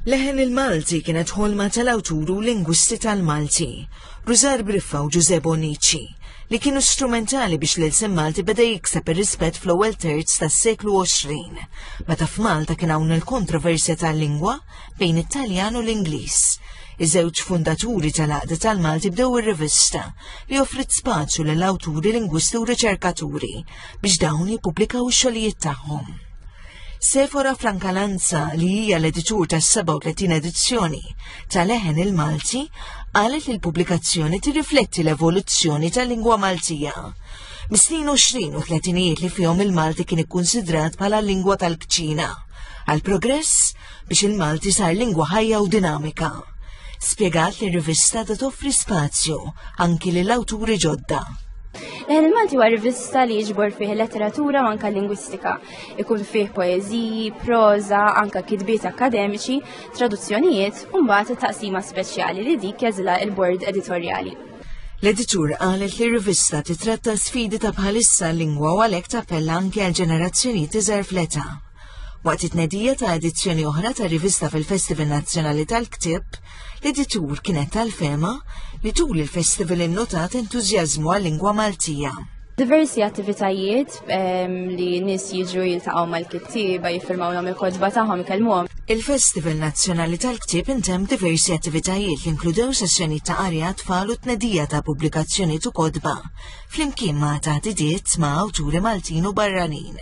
Leħen il-Malti kienet ħolma tal-awturu lingwisti tal-Malti, Rużar Briffa u Ġuże Bonici, li kienu strumentali biex l-ilsem Malti beda jikseb ir-rispett fl-ewwel terz tas-seklu 20, meta f'Malta kien hawn il-kontroversja tal-lingwa bejn it-Taljan u l-Ingliż. Iż-żewġ fundaturi tal-għaqda tal-Malti bdew ir-rivista li offrit spazju lill awturi lingwisti u riċerkaturi biex dawn jippubblikaw ix-xogħlijiet tagħhom. Sefora Frankalanza li hija l-editur tas-37 edizzjoni tal-Eħen il-Malti qalet li l-pubblikazzjoni tirrifletti l-evoluzzjoni tal-lingwa Maltija. Mis-snin 20 u 30 li fihom il-Malti kien ikkunsidrat bħala l-lingwa tal-kċina. Għal progress biex il-Malti sar lingwa ħajja u dinamika. Spjegat li r-rivista da toffri spazju anki lil awturi ġodda. Leħen il-Malti huwa rivista li jiġbor fih letteratura u anka lingwistika. Ikun fih poeżiji, proża, anka kitbiet akademiċi, traduzzjonijiet u mbagħad taqsima speċjali li dik jeżilha il-bord editorjali. L-editur qalet li rivista titratta sfidi ta' bħalissa lingwa u għalhekk tappella anke għal ġenerazzjoni tiżer fleta. Waqt it-tnedija ta' edizzjoni oħra ta' rivista fil-Festival Nazzjonali tal-Ktieb, l-editur kienet tal-fema li tul il-festival innotat entużjażmu għal-lingwa Maltija. Diversi attivitajiet ehm, li nis jiġu jiltaqgħu mal-kittieba, jiffirmawlhom il-kodba tagħhom, ikellmuhom. Il-Festival Nazzjonali tal-Ktieb intemm diversi attivitajiet li inkludew sessjoni ta' arja tfal u tnedija ta' pubblikazzjoni tu kodba, flimkien ma' ta' didiet ma' awturi Maltin u barranin.